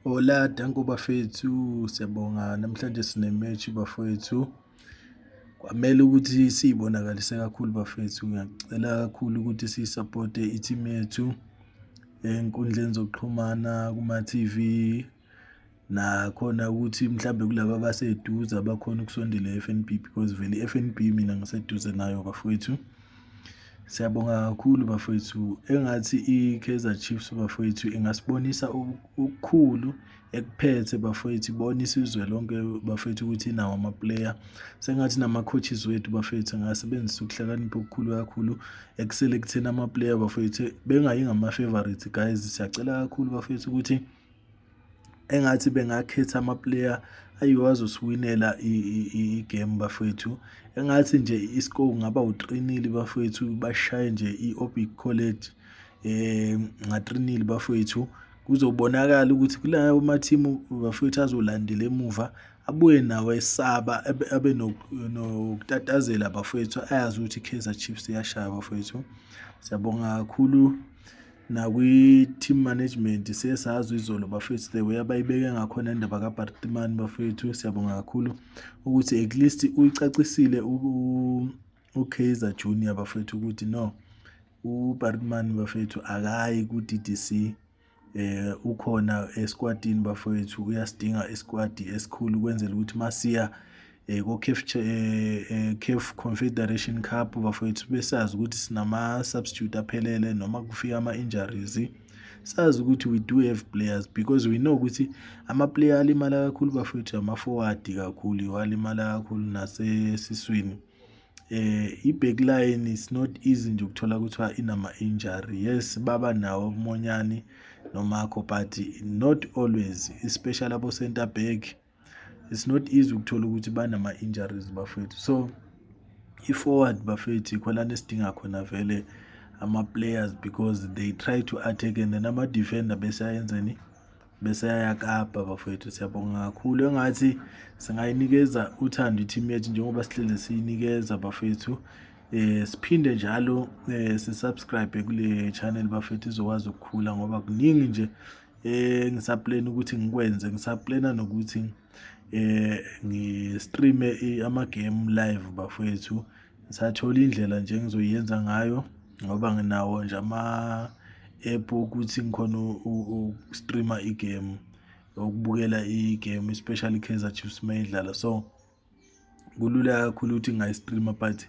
Hola, danko bafethu. Siyabonga namhlanje sine match bafethu. Kwamele ukuthi siyibonakalise kakhulu bafethu. Ngiyacela kakhulu ukuthi sisupporte i-team yethu enkundleni zokuxhumana kuma TV nakhona ukuthi mhlambe kulabo abaseduze abakhona ukusondela e-FNB because vele i-FNB mina ngiseduze nayo bafethu. Siyabonga kakhulu bafowethu. Engathi i-Kaizer Chiefs bafowethu ingasibonisa okukhulu ekuphethe bafowethu ibona isizwe lonke bafowethu ukuthi inawo amaplayer sengathi nama-coaches wethu bafowethu angasebenzisa ukuhlakanipha okukhulu kakhulu ekuselekteni amaplayer bafowethu bengayi ngama-favorites guys siyacela kakhulu bafowethu ukuthi engathi bengakhetha amaplayer ayiwo azosiwinela igame bafethu engathi nje iscore kungaba utrinili bafethu bashaye nje i-obic college um ngatrinili bafethu kuzobonakala ukuthi kulawo mathimu bafethu azolandela emuva abuye nawo esaba abe nokutatazela bafethu ayazi ukuthi i-kaizer chiefs iyashaya bafethu siyabonga kakhulu nakwi-team management siye sazwa izolo bafethu the way abayibeke ngakhona indaba kabartimani bafethu siyabonga kakhulu ukuthi at least uyicacisile ukaizer junior bafethu ukuthi no ubartimani bafethu akayi ku-d d c eh ukhona esikwatini bafowethu uyasidinga isikwadi esikhulu kwenzela ukuthi masiya eh, ko-caf eh, eh, caf confederation cup bafowethu besazi ukuthi sinama-substitute aphelele noma kufika ama-injuries sazi ukuthi we do have players because we know ukuthi ama-player alimala kakhulu bafowethu ama-forward kakhulu yiwo alimala kakhulu nasesiswini eh i-back line is not easy nje ukuthola kuthiwa inama-injury yes baba nawo umonyani nomakho but not always especially abo-center back it's not easy ukuthola ukuthi banama-injuries bafethu so i-forward bafethu ikhonana esidinga khona vele ama-players because they try to attack and then ama-defender besayenzeni bese yayakapa bafowethu siyabonga kakhulu engathi singayinikeza uthando i-team yethu njengoba sihlele siyinikeza bafethu eh siphinde njalo eh sisubscribe kule channel bafethu izokwazi ukukhula ngoba kuningi nje eh ngisaplena ukuthi ngikwenze ngisaplena nokuthi eh ngistreame ama game live bafethu ngisathola indlela nje engizoyenza ngayo ngoba nginawo nje ama app okuthi ngikhona ukustreama igame ukubukela igame especially Kaizer Chiefs mayidlala so kulula kakhulu ukuthi ngingayistreama but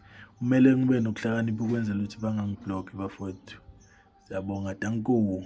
kumele ngibe nokuhlakanipha ukwenzela ukuthi bangangibhlokhi bafowethu. Siyabonga, danko.